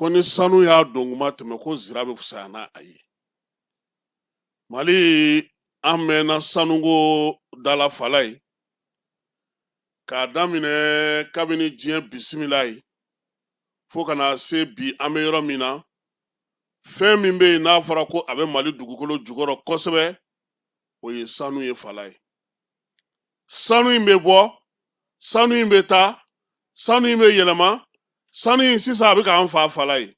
ko ni sanu y'a don kuma tɛmɛ ko zira bɛ fisa n'a ye mali an mɛnna sanuko da la falayi k'a daminɛ kabini diɲɛ bisimila ye fo ka na se bi an bɛ yɔrɔ min na fɛn min bɛ yen n'a fɔra ko a bɛ mali dugukolo jukɔrɔ kosɛbɛ o ye sanu ye falayi sanu in bɛ bɔ sanu in bɛ taa sanu in bɛ yɛlɛma sanu in sisan a bɛ k'an faa falayi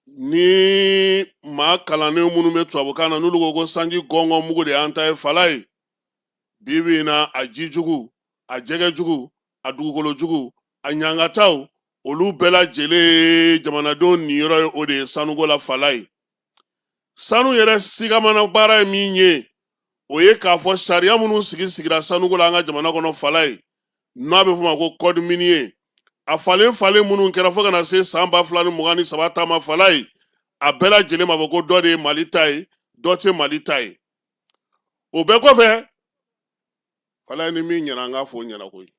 ni maa kalannen minnu bɛ tubabukan na n'olu ko ko sanji gɔngɔn mugu de y'an ta ye falayi bi bi in na a ji jugu a jɛgɛ jugu a dugukolo jugu a ɲangataw olu bɛɛ lajɛlen jamanadenw niyɔrɔ ye o de ye sanuko la falayi sanu yɛrɛ sigamana baara ye min ye o ye k'a fɔ sariya minnu sigi sigira sanuko la an ka jamana kɔnɔ falayi n'a bɛ f'o ma ko code minier a falen falen minnu kɛra fo ka na se san ba fila ni mugan ni saba ta ma falayi a bɛɛ lajɛlen m'a fɔ ko dɔ de ye mali ta ye dɔ tɛ mali ta ye o bɛɛ kɔfɛ falayi ni min ɲɛna an k'a fɔ o ɲɛna koyi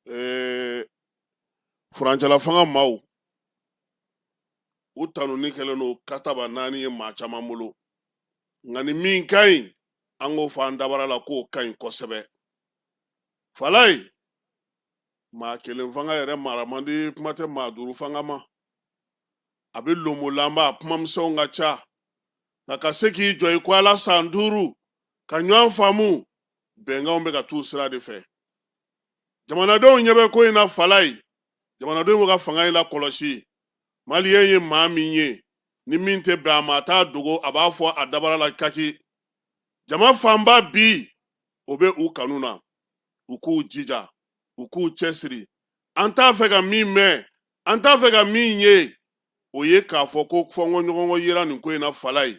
ee furancɛla fanga maaw u tanuni kɛlen don kataba naani ye maa caman bolo nka ni min ka ɲi an k'o fɔ an dabara la k'o ka ɲi kosɛbɛ falayi maa kelen fanga yɛrɛ mara man di kuma tɛ maa duuru fanga ma a bɛ lonbolanba a kumamisɛnw ka ca nka ka se k'i jɔ i ko ala san duuru ka ɲɔgɔn faamu bɛnkanw bɛ ka t'u sira de fɛ jamanadenw ɲɛ bɛ ko in na falayi jamanadenw bɛ ka fanga in lakɔlɔsi maliyɛn ye maa min ye ni min tɛ bɛn a ma a t'a dogo a b'a fɔ a dabara la kaki jama fanba bi o bɛ u kanu na u k'u jija u k'u cɛsiri an t'a fɛ ka min mɛn an t'a fɛ ka min ye o ye k'a fɔ ko fɔnkɔɲɔgɔnkɔ yera nin ko in na falayi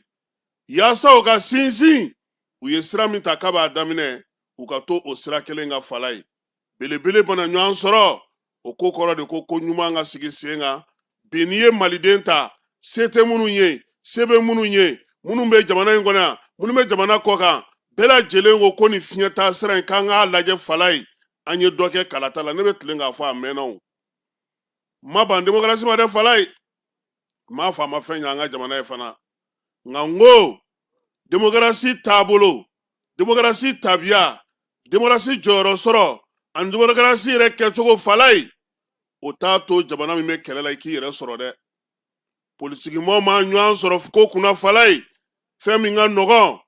Yaasa u ka sinsin u ye sira min ta kab'a daminɛ u ka to o sira kelen kan falayi belebele bana ɲɔgɔn sɔrɔ o ko kɔrɔ de ko ko ɲuman ka sigi sen kan bi n'i ye maliden ta se tɛ minnu ye se bɛ minnu ye minnu bɛ jamana in kɔnɔ yan minnu bɛ jamana kɔkan bɛɛ lajɛlen ko ko ni fiɲɛ ta sira in k'an k'a lajɛ falayi an ye dɔ kɛ kalata la ne bɛ tilen k'a fɔ a mɛnnaw ma ban demokarasi ma dɛ falayi m'a f'a ma fɛn ɲɛ an ka jamana ye fana nka n ko demokarasi taabolo demokarasi tabiya demokarasi jɔyɔrɔ sɔrɔ ani demokarasi yɛrɛ kɛcogo falayi o t'a to jamana min bɛ kɛlɛ la i k'i yɛrɛ sɔrɔ dɛ politikimɔgɔw ma ɲɔgɔn sɔrɔ ko kunna falayi fɛn min ka nɔgɔn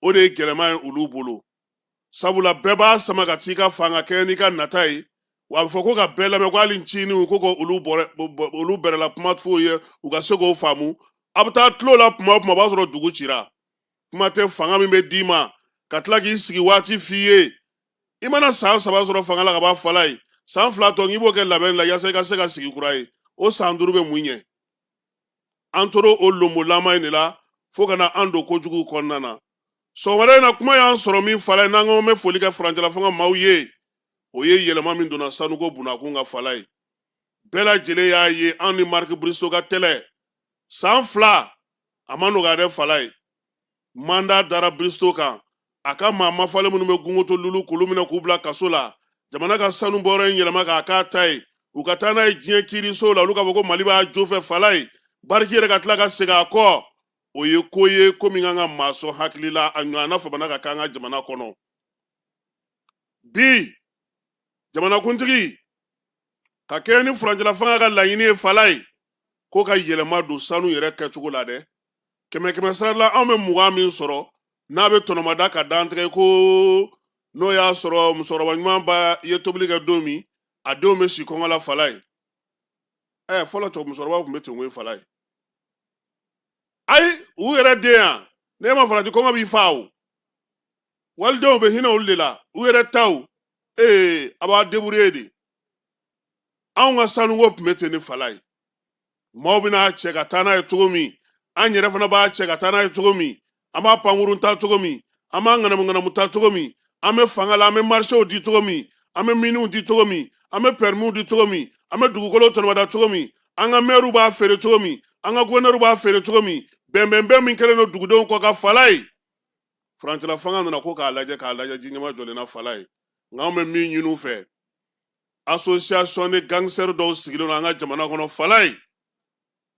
o de ye gɛlɛman ye olu bolo sabula bɛɛ b'a sama ka t'i ka fan ka kɛɲɛ n'i ka nata ye wa a bɛ fɔ ko ka bɛɛ lamɛn ko hali nciniw ko ko olu bɛrɛla kuma f'u ye u ka se k'o faamu a bɛ taa tulo la tuma o tuma o b'a sɔrɔ dugu cira kuma tɛ fanga min bɛ d'i ma ka tila k'i sigi waati f'i ye i mana san saba sɔrɔ fanga la ka ban falayi san fila tɔ k'i b'o kɛ labɛn la yaasa i ka se ka sigi kura ye o san duuru bɛ mun ɲɛ an tora o lonbonlama in de la fo ka na an don kojugu kɔnɔna na sɔgɔmada in na kuma y'an sɔrɔ min falayi n'an ko bɛ foli kɛ furancɛla fanga maaw ye o ye yɛlɛma min donna sanuko bunda kun kan falayi bɛɛ lajɛlen y'a ye an ni mark bristo ka kɛlɛ san fila a ma nɔgɔya dɛ falayi manda dara bristo kan a ka maa mafalen minnu bɛ gunkoto lulo k'olu minɛ k'u bila kaso la jamana ka sanubɔyɔrɔ in yɛlɛma k'a k'a ta ye u ka taa n'a ye diɲɛ kiiriso la olu k'a fɔ ko mali b'a jo fɛ falayi bariki yɛrɛ ka tila ka segin a kɔ o ye ko ye ko min kan ka maa sɔn hakili la a ɲɔgɔnna fana man kan ka k'an ka jamana kɔnɔ bi jamanakuntigi ka kɛɲɛ ni furancɛlafanga ka laɲini ye falayi ko ka yɛlɛma don sanu yɛrɛ kɛcogo la dɛ kɛmɛ kɛmɛ sara la anw bɛ mugan min sɔrɔ n'a bɛ tɔnɔmada ka dantigɛ ko n'o y'a sɔrɔ musokɔrɔba ɲuman ba ye tobili kɛ don min a denw bɛ si kɔngɔ la falayi ɛɛ fɔlɔ musokɔrɔba tun bɛ ten koyi falayi ayi u yɛrɛ den yan n'i ma farati kɔngɔ b'i fa o walidenw bɛ hinɛ olu de la u yɛrɛ taw ee a b'a deburiye de anw ka sanuko tun bɛ ten de falayi maaw bɛ n'a cɛ ka taa n'a ye cogo min an yɛrɛ fana b'a cɛ ka taa n'a ye cogo min an b'a pankurun ta cogo min an b'a ŋanamuŋanamu ta cogo min an bɛ fanga la an bɛ marisew di cogo min an bɛ miniw di cogo min an bɛ pɛrimiw di cogo min an bɛ dugukolo tɔnɔmada cogo min an ka mɛriw b'a feere cogo min an ka gɔfɛrɛnɛriw b'a feere cogo min bɛnbɛnbɛn min kɛlen don dugudenw kɔ kan falayi furancɛla fanga nana ko k'a lajɛ k'a lajɛ ji ɲɛmajɔlen na falayi nka an bɛ min ɲini u fɛ asosiyasɔn ni gangstɛri dɔw sigilen don an ka jamana kɔnɔ falayi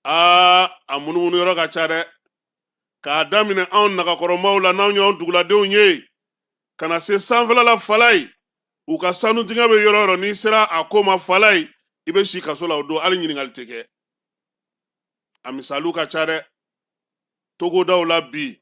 aa a munumunu yɔrɔ ka ca dɛ k'a daminɛ anw nagakɔrɔmaw la n'anw y'an duguladenw ye ka na se sanfɛla la falayi u ka sanudingɛ bɛ yɔrɔ yɔrɔ n'i sera a ko ma falayi i bɛ si kaso la o don hali ɲininkali tɛ kɛ a misaliw ka ca dɛ togodaw la bi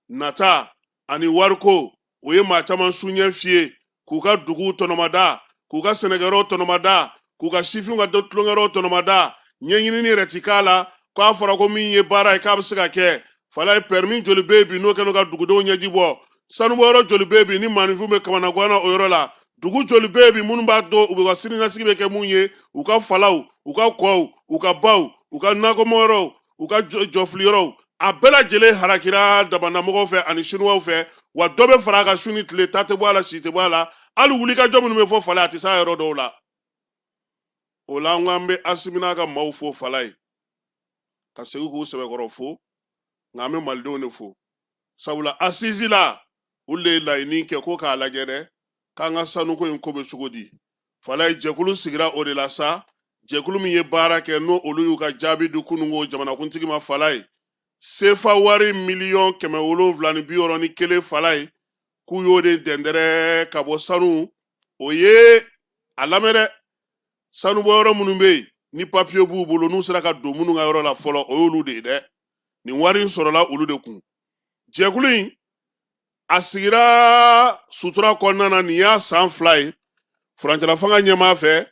nata ani wariko o ye maa caman su ɲɛ fiyɛ k'u ka duguw tɔnɔmada k'u ka sɛnɛkɛyɔrɔw tɔnɔmada k'u ka sifinw ka tulonkɛyɔrɔw tɔnɔmada ɲɛɲinini yɛrɛ ti k'a la k'a fɔra ko min ye baara ye k'a bɛ se ka kɛ falayi pɛrɛmi joli bɛ yen bi n'o kɛnɛ ka dugudenw ɲɛji bɔ sanubɔyɔrɔ joli bɛ bi ni maaninfin bɛ kamanagan na o yɔrɔ la dugu joli bɛ bi minnu b'a dɔn u bɛ ka siniɲɛsigi bɛ kɛ mun ye u ka falaw u ka kɔw u ka baw u ka nakɔmayɔrɔw u ka jɔfiliyɔrɔw a bɛɛ lajɛlen harakira damannamɔgɔw fɛ ani sinuwaw fɛ wa dɔ bɛ fara a kan su ni tile ta tɛ bɔ a la si tɛ bɔ a la hali wulikajɔ minnu bɛ fɔ falaye a tɛ s'a yɔrɔ dɔw la o la an ko an bɛ asimi n'a ka maaw fo falaye ka segin k'u sɛbɛkɔrɔ fo nka an bɛ malidenw de fo sabula assises la olu de ye laɲini kɛ ko k'a lajɛ dɛ k'an ka sanuko in ko bɛ cogo di falaye jɛkulu sigira o de la sa jɛkulu min ye baara kɛ n'o olu y'u ka jaabi di kununko jamanakuntigi ma falaye sefa wari miliyɔn kɛmɛ wolonwula ni bi wɔɔrɔ ni kelen falaye k'u y'o de dɛndɛrɛ ka bɔ sanu o ye a lamɛn dɛ sanubɔyɔrɔ minnu bɛ yen ni papiye b'u bolo n'u sera ka don minnu ka yɔrɔ la fɔlɔ o y'olu de ye dɛ nin wari in sɔrɔla olu de kun jɛkulu in a sigira sutura kɔnɔna na nin y'a san fila ye furancɛlafanga ɲɛmaa fɛ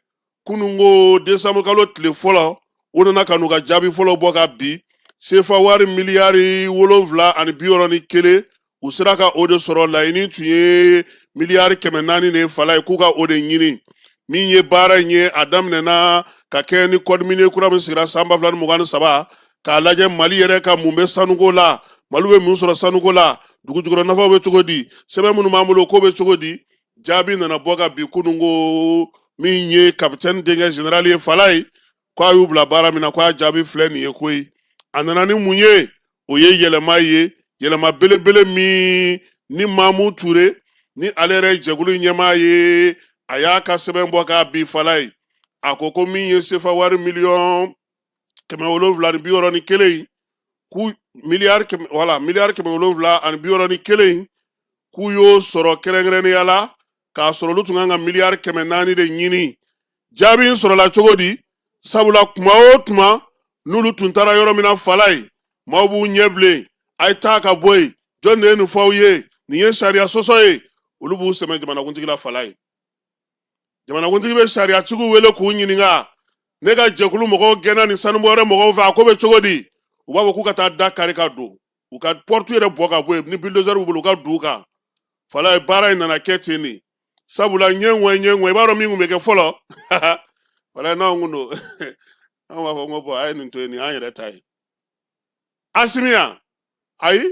kununko desanbu kalo tile fɔlɔ u nana ka n'u ka jaabi fɔlɔ bɔ ka bi sefa wari miliyari wolonfila ani bi wɔɔrɔ ni kelen u sera ka o de sɔrɔ laɲini tun ye miliyari kɛmɛ naani de falaye k'u ka o de ɲini min ye baara in ye a daminɛna ka kɛɲɛ ni code minier kura min sigira san ba fila ni mugan ni saba k'a lajɛ mali yɛrɛ ka mun bɛ sanuko la mali bɛ mun sɔrɔ sanuko la dugu jukɔrɔ nafaw bɛ cogo di sɛbɛn minnu b'an bolo k'o bɛ cogo di jaabi nana bɔ ka bi kununko min ye kapitɛni denkɛ général ye falaye k' a y'u bila baara min na k' a jaabi filɛ nin ye koyi a nana ni mun ye o ye yɛlɛma ye yɛlɛma belebele min ni mamu ture ni ale yɛrɛ jɛkulu ɲɛmaa ye a y'a ka sɛbɛn bɔ k'a bi falaye a ko ko min ye sefa wari miliyɔn kɛmɛ wolonwula ni bi wɔɔrɔ ni kelen k'u miliyari kɛmɛ wala miliyari kɛmɛ wolonwula ani bi wɔɔrɔ ni kelen k'u y'o sɔrɔ kɛrɛnkɛrɛnnenya la k'a sɔrɔ olu tun kan ka miliyari kɛmɛ naani de ɲini jaabi in sɔrɔla cogo di sabula kuma o tuma n'olu tun taara yɔrɔ min na falaye maaw b'u ɲɛ bilen a ye taa ka bɔ yen jɔn de ye nin fɔ aw ye nin ye sariya sɔsɔ ye olu b'u sɛmɛ jamanakuntigi la falaye jamanakuntigi bɛ sariyatigiw wele k'u ɲininka ne ka jɛkulu mɔgɔw gɛnna nin sanubɔyɔrɔ mɔgɔw fɛ a ko bɛ cogo di u b'a fɔ k'u ka taa da kari ka don u ka porte yɛrɛ bɔ ka bɔ yen ni bulldozer b'u bolo u ka d'u kan falaye baara in nana kɛ ten de sabula ɲɛ ŋɔɛ ɲɛ ŋɔɛ i b'a dɔn min kun bɛ kɛ fɔlɔ falaye n'anw kun don an b'a fɔ n ko bɔn a ye nin to yen nin y'an yɛrɛ ta ye asimi yan ayi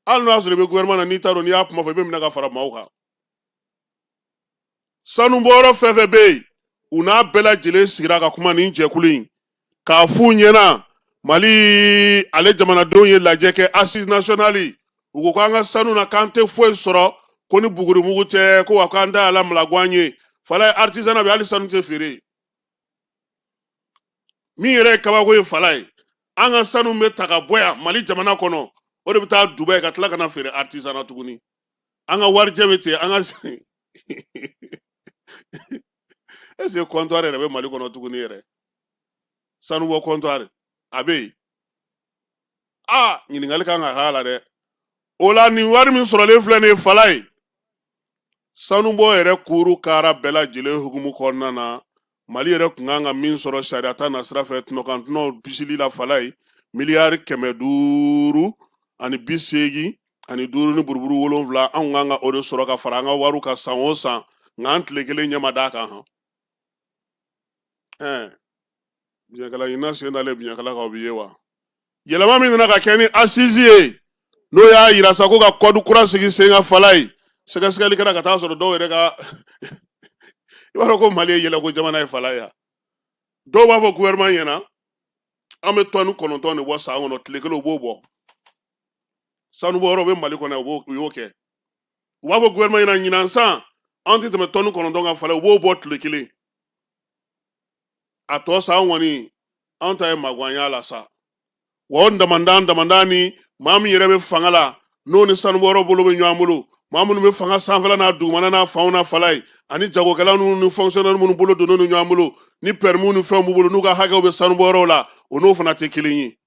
hali n'o y'a sɔrɔ i bɛ gouvernement na n'i t'a dɔn n'i y'a kuma fɔ i bɛ minɛ ka fara maaw kan sanubɔyɔrɔ fɛn fɛn bɛ yen u n'a bɛɛ lajɛlen sigira ka kuma nin jɛkulu in k'a f'u ɲɛna mali ale jamanadenw ye lajɛ kɛ assise nationale u ko k'an ka sanu na k'an tɛ foyi sɔrɔ ko ni bugurimugu tɛ ko wa k'an da ala malaguan ye falaye artisanat bɛ hali sanu tɛ feere min yɛrɛ ye kabako ye falaye an ka sanu bɛ ta ka bɔ yan mali jamana kɔnɔ o de bɛ taa dubaï ka tila ka na feere artisanat tuguni an ka warijɛ bɛ ten an ka est ce que comptoir yɛrɛ bɛ mali kɔnɔ tuguni yɛrɛ sanubɔ comptoir a bɛ yen a ɲininkali kan ka k'a la dɛ o la nin wari min sɔrɔlen filɛ nin ye falaye sanubɔ yɛrɛ kuuru kaara bɛɛ lajɛlen hukumu kɔnɔna na mali yɛrɛ tun kan ka min sɔrɔ sariya ta nasira fɛ tɔnɔkan tɔnɔ bisili la falaye miliyari kɛmɛ duuru ani bi seegin ani duuru ni buruburu wolonwula an tun kan ka o de sɔrɔ ka fara an ka wariw kan san o san nka an tile kelen ɲɛ ma d'a kan hɔn ɛɛ biɲɛkala ɲinina sen dalen biɲɛkala kan o bɛ ye wa yɛlɛma min nana ka kɛ ni assise ye n'o y'a yira sa ko ka code kura sigi sen kan falaye sɛgɛsɛgɛli kɛra ka t'a sɔrɔ dɔw yɛrɛ ka i b'a dɔn ko mali ye yɛlɛko jamana ye falaye dɔw b'a fɔ gouvernement ɲɛna an bɛ tɔni kɔnɔntɔn de bɔ san kɔnɔ tile kelen u b'o bɔ sanubɔyɔrɔ bɛ mali kɔnɔ u y'o kɛ u b'a fɔ gouvernement ɲɛna ɲinan san an tɛ tɛmɛ tɔni kɔnɔntɔn kan falaye u b'o bɔ tile kelen a tɔ sa an kɔni an ta ye magwanya la sa wa o damanda damanda ni maa min yɛrɛ bɛ fanga la n'o ni sanubɔyɔrɔ bolo bɛ ɲɔgɔn bolo maa minnu bɛ fanga sanfɛla n'a dugumana n'a fanw na falaye ani jagokɛla ninnu ni fonctionnaire minnu bolo donnen ni ɲɔgɔn bolo ni permis ni fɛnw b'u bolo n'u ka hakɛw bɛ sanubɔyɔrɔw la o n'o fana tɛ kelen ye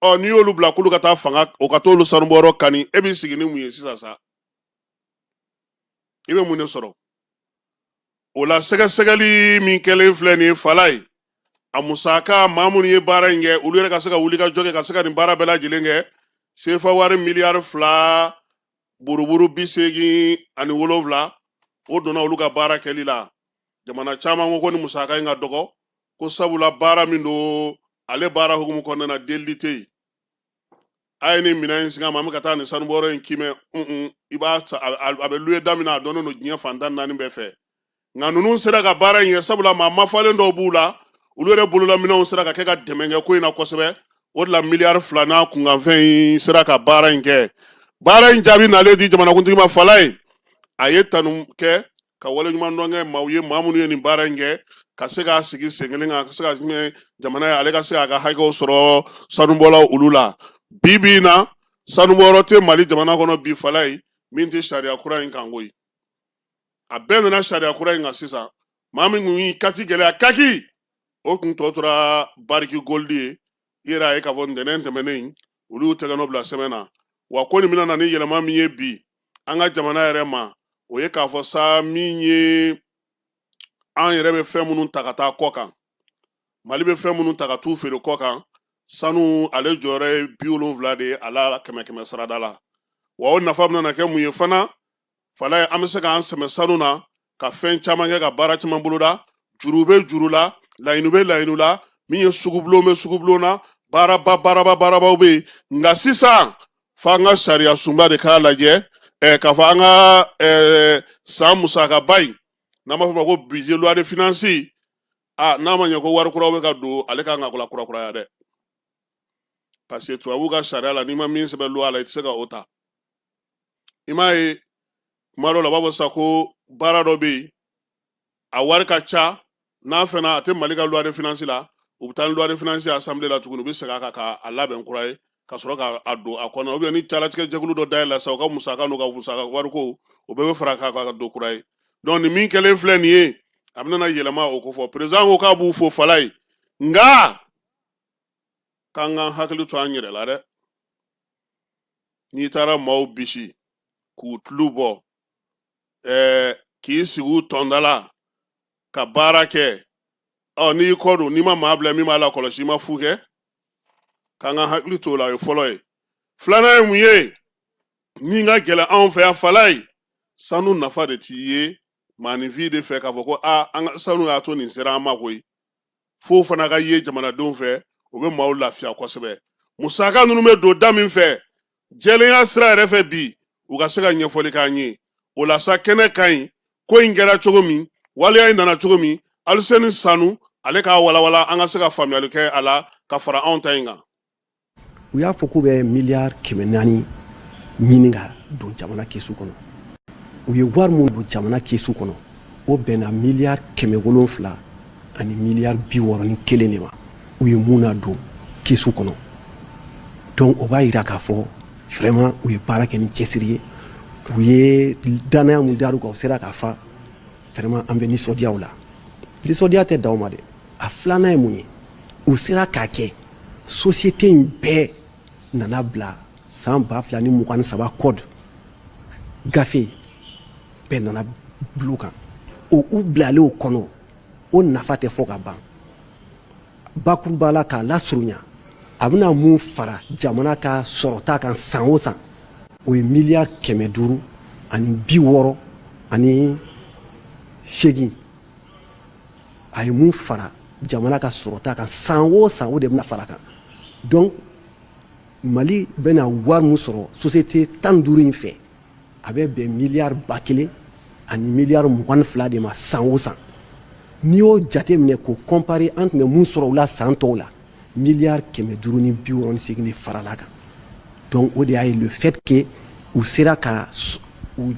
ɔ n'i y'olu bila k'olu ka taa fanga o ka t'olu sanubɔyɔrɔ kani e b'i sigi ni mun ye sisan sa i bɛ mun de sɔrɔ o la sɛgɛsɛgɛli min kɛlen filɛ nin ye falaye a musaka maa minnu ye baara in kɛ olu yɛrɛ ka se ka wulikajɔ kɛ ka se ka nin baara bɛɛ lajɛlen kɛ sefa wari miliyari fila buruburu bi seegin ani wolonwula o donna olu ka baara kɛli la jamana caman ko ko nin musaka in ka dɔgɔ ko sabula baara min don ale baara hukumu kɔnɔna na delili tɛ yen a ye nin minɛn in singa an ma an bɛ ka taa nin sanubɔyɔrɔ in kiimɛ un i b'a a bɛ louer da min na a dɔnnen don diɲɛ fan tan ni naani bɛɛ fɛ nka ninnu sera ka baara in kɛ sabula maa mafalen dɔw b'u la olu yɛrɛ bololaminɛnw sera ka kɛ ka dɛmɛ kɛ ko in na kosɛbɛ o de la miliyari fila n'a kunkanfɛn in sera ka baara in kɛ baara in jaabi nalen di jamanakuntigi ma falaye a ye tanu kɛ ka waleɲuman dɔnkɛ maaw ye maa minnu ye nin baara in kɛ ka se k'a sigi sen kelen kan ka se ka jamana in ale ka se k'a ka hakɛw sɔrɔ sanubɔlaw olu la bi bi in na sanubɔyɔrɔ tɛ mali jamana kɔnɔ bi falayi min tɛ sariya kura in kan koyi a bɛɛ nana sariya kura in kan sisan maa min kun y'i katigɛlɛya kaki o kun tɔ tora barrick gold ye i yɛrɛ a ye k'a fɔ ntɛnɛn tɛmɛnen in olu y'u tɛgɛnɔ bila sɛbɛn na wa ko nin bɛna na ni yɛlɛma min ye bi an ka jamana yɛrɛ ma o ye k'a fɔ sa min ye an yɛrɛ bɛ fɛn minnu ta ka taa kɔ kan mali bɛ fɛn minnu ta ka t'u feere kɔ kan sanu ale jɔyɔrɔ ye bi wolonfila de ye a la kɛmɛ kɛmɛ sarada la wa o nafa bɛna kɛ mun ye fana falayi an bɛ se k'an sɛmɛ sanu na ka fɛn caman kɛ ka baara caman boloda juru bɛ juru la layiɲiniw bɛ layiɲiniw la min ye sugubulon bɛ sugubulon na baaraba baaraba baarabaw bɛ yen nka sisan fo an ka sariyasunba de k'a lajɛ ɛɛ k'a fɔ an ka ɛɛ san musakaba in n'an b'a fɔ o ma ko budget loi de finance a n'a ma ɲɛ ko wari kuraw bɛ ka don ale kan ka kura kura kuraya dɛ parce que tubabuw ka sariya la n'i ma min sɛbɛn loi la i tɛ se ka o ta i m'a ye kuma dɔ la u b'a fɔ sa ko baara dɔ bɛ yen a wari ka ca n'a fɛnɛ a tɛ mali ka loi de finance la u bɛ taa ni loi de finance assemblée la tuguni u bɛ segin a kan ka a labɛn kura ye ka sɔrɔ ka a don a kɔnɔ ou bien ni jalatigɛ jɛkulu dɔ dayɛlɛla sa u ka musaka n'u ka musaka wariko o bɛɛ bɛ fara k'a kan ka don kura ye donc nin min kɛlen filɛ nin ye a bɛna yɛlɛma o kofɔ président ko k'a b'u fo falayi nka k'an k'an hakili to an yɛrɛ la dɛ n'i taara maaw bisi k'u tulu bɔ k'i sigi u tɔnda la ka baara kɛ ɔ n'i kɔ don n'i ma maa bila min b'a lakɔlɔsi i ma fu kɛ k'an ka hakili t'o la o ye fɔlɔ ye filanan ye mun ye min ka gɛlɛn anw fɛ yan falayi sanu nafa de tɛ ye maaninfin de fɛ k'a fɔ ko aa an ka sanu y'a to nin sera an ma koyi f'o fana ka ye jamanadenw fɛ o bɛ maaw lafiya kosɛbɛ musaka ninnu bɛ don da min fɛ jɛlenya sira yɛrɛ fɛ bi u ka se ka ɲɛfɔli k'an ye o la sa kɛnɛ ka ɲi ko in kɛra cogo min waleya in nana cogo min aliseni sanu ale k'a walawala an ka se ka faamuyali kɛ a la ka fara anw ta in kan u y'a fɔ k'u bɛ miliyari kɛmɛ naani ɲini ka don jamana kesu kɔnɔ u ye wari min don jamana kesu kɔnɔ o bɛnna miliyari kɛmɛ wolonfila ani miliyari bi wɔɔrɔ ni kelen de ma u ye mun nadon kesu kɔnɔ donc o b'a yira k'a fɔ vraiment u ye baara kɛ ni cɛsiri ye u ye dannaya mun dar'u kan u sera k'a fa vraiment an bɛ nisɔndiya u la nisɔndiya tɛ dan o ma dɛ a filanan ye mun ye u sera k'a kɛ sosiyete in bɛɛ nana bila san ba fila ni mugan ni saba kɔdu gafe bɛɛ nana bulu kan o u bilalen o kɔnɔ o nafa tɛ fɔ ka ban bakuruba la k'a lasurunya a bɛna mun fara jamana ka sɔrɔta kan san o san o ye miliyari kɛmɛ duuru ani bi wɔɔrɔ ani seegin a ye mun fara jamana ka sɔrɔta kan san o san o de bɛna fara kan donc mali bɛna wari min sɔrɔ société tan duuru in fɛ a bɛ bɛn miliyari ba kelen ani miliyari mugan ni fila de ma san o san n'i y'o jate minɛ k'o kɔnpare an tun bɛ mun sɔrɔ u la san tɔw la Miya kɛmɛ duuru ni biɔrɔnse farala kan dɔn o de y'a ye fɛtke u sera ka u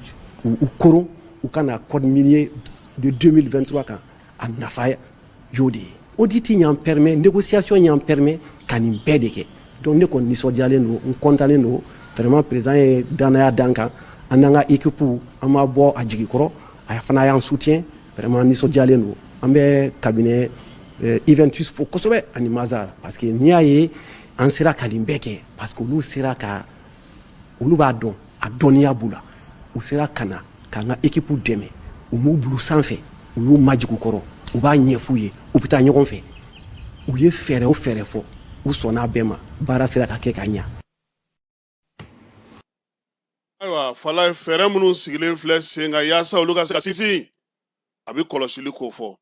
ko u ka na kɔ mi ye don don2tɔ kan a nafa y'o de ye o de tɛ y'an pɛmɛ de ko siyasɔn y'an pɛmɛ ka nin bɛɛ de kɛ dɔn ne kɔni nisɔndiyalen don n kɔntannen don fɛrɛma perez ye danya dan kan an'an ka ekip an ma bɔ a jigi kɔrɔ a fana y'an su tiɲɛ Vraiment nisɔndiyalen don an bɛ cabinet Iventus fo kosɛbɛ ani Mazars parce que n'i y'a ye an sera ka nin bɛɛ kɛ parce que olu sera ka olu b'a dɔn a dɔnniya b'u la u sera ka na ka an ka équipe dɛmɛ u m'u bila u sanfɛ u y'u majigin u kɔrɔ u b'a ɲɛf'u ye u bɛ taa ɲɔgɔn fɛ u ye fɛɛrɛ o fɛɛrɛ fɔ u sɔnn'a bɛɛ ma baara sera ka kɛ ka ɲa. Ayiwa Falayi fɛɛrɛ minnu sigilen filɛ sen kan yaasa olu ka se ka sinsin a bɛ kɔlɔsili kofɔ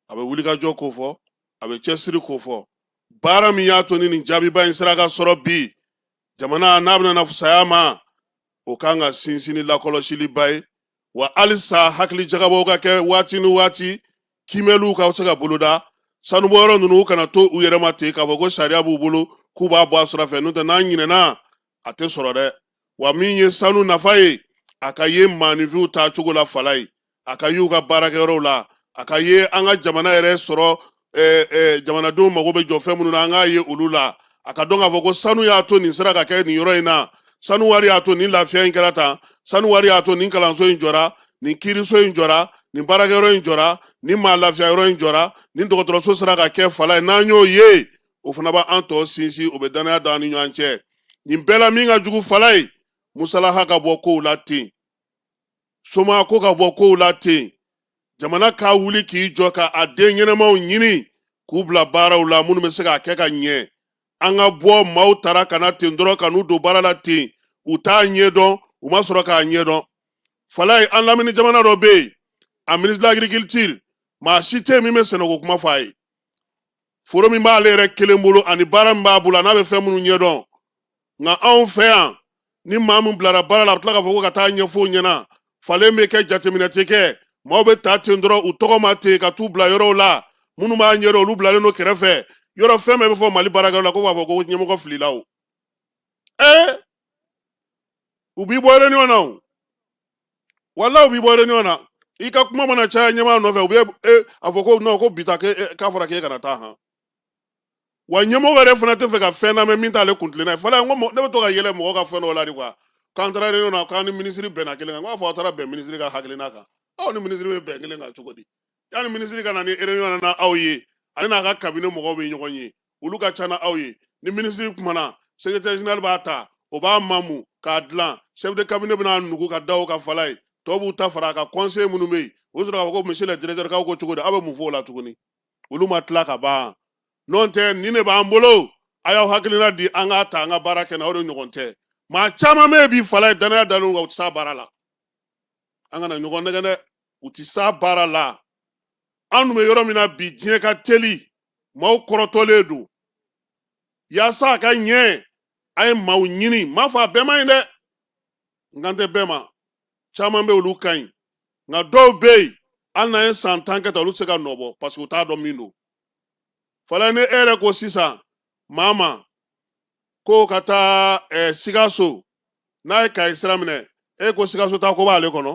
a bɛ wulikajɔ kofɔ a bɛ cɛsiri kofɔ baara min y'a to ni nin jaabiba in sera ka sɔrɔ bi jamana n'a bɛna na fisaya ma o ka kan ka sinsin ni lakɔlɔsiliba ye wa halisa hakilijagabɔw ka kɛ waati ni waati kiimɛliw ka se ka boloda sanubɔyɔrɔ ninnu kana to u yɛrɛ ma ten k'a fɔ ko sariya b'u bolo k'u b'a bɔ a sira fɛ n'o tɛ n'an ɲinɛna a tɛ sɔrɔ dɛ wa min ye sanu nafa ye a ka ye maaninfinw taa cogo la Falayi a ka y'u ka baarakɛyɔrɔw la a ka ye an ka jamana yɛrɛ sɔrɔ eh, eh, jamanadenw mago bɛ jɔ fɛn minnu na an k'a ye olu la a ka dɔn k'a fɔ ko sanu y'a to nin sera ka kɛ nin yɔrɔ in na sanu wari y'a to nin lafiya in kɛra tan sanu wari y'a to nin kalanso in jɔra nin kiiriso in jɔra nin baarakɛyɔrɔ in jɔra nin maa lafiya yɔrɔ in jɔra nin dɔgɔtɔrɔso sera ka kɛ Falayi n'an y'o ye o fana b'an tɔ sinsin o bɛ dannaya don an ni ɲɔgɔn cɛ nin bɛɛ la min ka jugu Falayi musalaha ka bɔ kow la ten somaako ka bɔ kow la ten jamana k'a wuli k'i jɔ ka a den ɲɛnamaw ɲini k'u bila baaraw la minnu bɛ se k'a kɛ ka ɲɛ an ka bɔ maaw tara ka na ten dɔrɔn ka n'u don baara la ten u t'a ɲɛdɔn u ma sɔrɔ k'a ɲɛdɔn falaye an lamini jamana dɔ bɛ yen a ministre de l'agriculture maa si tɛ yen min bɛ sɛnɛko kuma fɔ a ye foro min b'ale yɛrɛ kelen bolo ani baara min b'a bolo an'a bɛ fɛn minnu ɲɛdɔn nka anw fɛ yan ni maa min bilara baara la a bɛ tila k'a fɔ ko ka taa ɲɛfɔ ɲɛna falen bɛ kɛ jateminɛ tɛ kɛ maaw bɛ ta ten dɔrɔn u tɔgɔ ma ten ka t'u bila yɔrɔw la minnu b'a ɲɛdɔn olu bilalen don kɛrɛfɛ yɔrɔ fɛn bɛɛ bɛ fɔ mali baarakɛlaw la ko b'a fɔ ko ɲɛmɔgɔ filila o ee u b'i bɔ réunion na o wala u b'i bɔ réunion na i ka kuma mana caya ɲɛmaa nɔfɛ u bɛ a fɔ ko non ko bi ta k'a fɔra k'e kana taa han wa ɲɛmɔgɔ yɛrɛ fana tɛ fɛ ka fɛn lamɛn min t'ale kuntilenna ye falaye n ko mɔ- ne bɛ to ka yɛlɛ mɔgɔ ka fɛn dɔw la de quoi k'an taara réunion na k'an ni minisiri bɛnna kelen kan n k'a fɔ aw taara bɛn minisiri ka hakilina kan aw ni minisiri bɛ bɛn kelen kan cogo di yanni minisiri ka na ni réunion na na aw ye ale n'a ka cabinet mɔgɔw bɛ ɲɔgɔn ye olu ka ca n'aw ye ni minisiri kumana secrétaire général b'a ta o b'a mamu k'a dilan chef de cabinet bɛ n'a nugu ka da o kan falaye tɔw b'u ta fara a kan conseil minnu bɛ yen o bɛ sɔrɔ k'a fɔ ko monsieur le directeur k'aw ko cogo di aw bɛ mun fɔ o la tuguni olu ma tila ka ban n'o tɛ nin de b'an bolo a y'aw hakilina di an k'a ta an ka baara kɛ na o de ɲɔgɔn tɛ maa caman bɛ yen bi falaye danaya dalen u kan u tɛ s'a baara la an kana ɲɔgɔn nɛgɛn dɛ u tɛ s'a baara la an dun bɛ yɔrɔ min na bi diɲɛ ka teli maaw kɔrɔtɔlen don yaasa a ka ɲɛ a ye maaw ɲini n m'a fɔ a bɛɛ man ɲi dɛ n kan tɛ bɛɛ ma caman bɛ olu ka ɲi nka dɔw bɛ yen hali n'an ye san tan kɛ tan olu tɛ se ka nɔ bɔ parce que u t'a dɔn min don falaye ni e yɛrɛ ko sisan maa ma ko ka taa ɛɛ eh, sikaso n'a ye kayi sira minɛ e ko sikaso taako b'ale kɔnɔ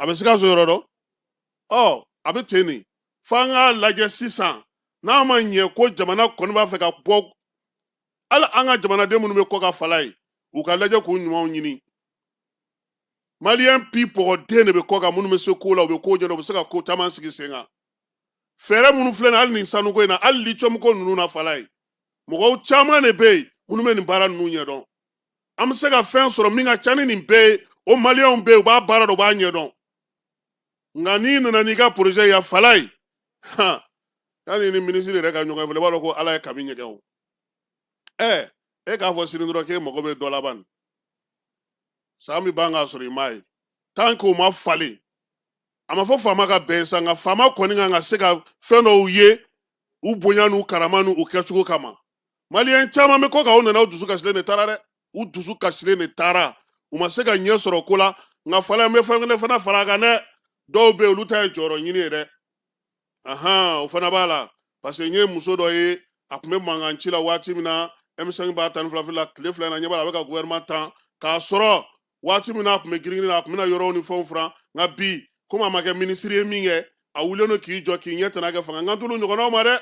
a bɛ sikaso yɔrɔ dɔn ɔ a bɛ ten de f'an k'a lajɛ sisan n'a ma ɲɛ ko jamana kɔni b'a fɛ ka bɔ hali an ka jamanaden minnu bɛ kɔ kan falaye u k'a lajɛ k'u ɲumanw ɲini maliyɛn pi pɔgɔden de bɛ kɔ kan minnu bɛ se ko la u bɛ ko ɲɛdɔn u bɛ se ka ko caman sigi sen kan fɛɛrɛ minnu filɛ nin hali nin sanuko in na hali litiyɔmuko ninnu na falaye mɔgɔw caman de bɛ yen minnu bɛ nin baara ninnu ɲɛdɔn an bɛ se ka fɛn sɔrɔ min ka ca ni nin bɛɛ ye o maliyɛnw bɛ yen u b'a baara dɔn u b'a ɲɛdɔn nka n'i nana n'i ka porozɛ ye falaye yann'i ni minisiri yɛrɛ ka ɲɔgɔn ye i b'a dɔn ko ala ye kami ɲɛgɛn o ɛ e k'a fɔ sini dɔrɔn k'e mago bɛ dɔ la ban san bɛ ban k'a sɔrɔ i m'a ye tant que o ma falen a ma fɔ faama ka bɛn sa nka faama kɔni kan ka se ka fɛn dɔw ye u bonya n'u karama n'u kɛcogo kama maliyɛn caman bɛ kɔ kan u nana u dusu kasilen de taara dɛ u dusu kasilen de taara u ma se ka ɲɛ sɔrɔ ko la nka fala n bɛ fɛn kelen fana fara a kan dɛ dɔw bɛ yen olu ta ye jɔyɔrɔ ɲini ye dɛ ahan o fana b'a la parce que n ye muso dɔ ye a tun bɛ mankan ci la waati min na m5 b'a tan ni fila la tile fila in na ɲɛ b'a la a bɛ ka gouvernement tan k'a sɔrɔ waati min na a tun bɛ girin girin na a tun bɛna yɔrɔw ni fɛnw furan nka bi komi a ma kɛ minisiri ye min kɛ a wulilen don k'i jɔ k'i ɲɛ tɛna kɛ fanga n kan t'olu ɲɔgɔnnaw ma dɛ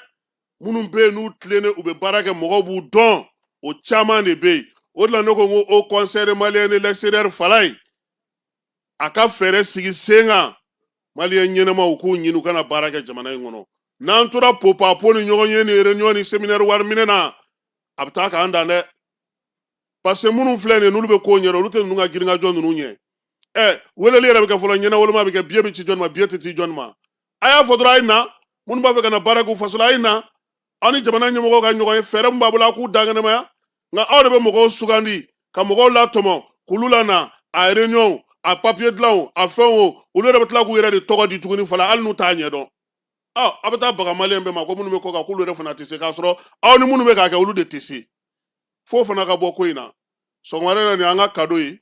minnu bɛ yen n'u tilennen u bɛ baara kɛ mɔgɔw b'u dɔn o caman de bɛ yen o de la ne ko n ko haut conseil des maliens de l'extérieur falaye a ka fɛɛrɛ sigi sen kan maliyɛn ɲɛnamaw k'u ɲini u ka na baara kɛ jamana in kɔnɔ n'an tora popapo ni ɲɔgɔn ye ni réunion ni séminaire wari minɛ na a bɛ taa k'an dan dɛ parce que minnu filɛ nin n'olu bɛ ko ɲɛdɔn olu tɛ ninnu ka girinkajɔ ninnu ɲɛ ɛ weleli yɛrɛ bɛ kɛ fɔlɔ ɲɛnawoloma bɛ kɛ biye bɛ ci jɔni ma biye tɛ ci jɔni ma a y'a fɔ dɔrɔn a ye na minnu b'a fɛ ka na baara k'u faso la a ye na aw ni jamana ɲɛmɔgɔw ka ɲɔgɔn ye fɛɛrɛ min b'a bolo a k'u dankɛnɛmaya nka aw de bɛ mɔgɔw sugandi ka mɔgɔw latɔmɔ k'olu lana a réunion a papiye dilanw a fɛnw o olu yɛrɛ bɛ tila k'u yɛrɛ de tɔgɔ di tuguni fala hali n'u t'a ɲɛdɔn ɔ aw bɛ taa baga maliyɛn bɛɛ ma ko minnu bɛ kɔ kan k'olu yɛrɛ fana tɛ se k'a sɔrɔ aw ni minnu bɛ k'a kɛ olu de tɛ se f'o fana ka bɔ ko in na sɔgɔmada in na nin y'an ka kado ye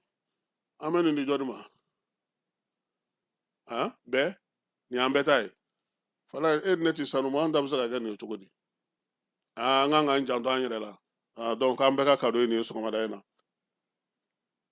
an bɛ nin di jɔni ma bɛɛ nin y'an bɛɛ ta ye fala e ni ne tɛ sanu ma an ta bɛ se ka kɛ nin ye cogo di an kan k'an janto an yɛrɛ la donc an bɛɛ ka kado ye nin ye sɔgɔmada in na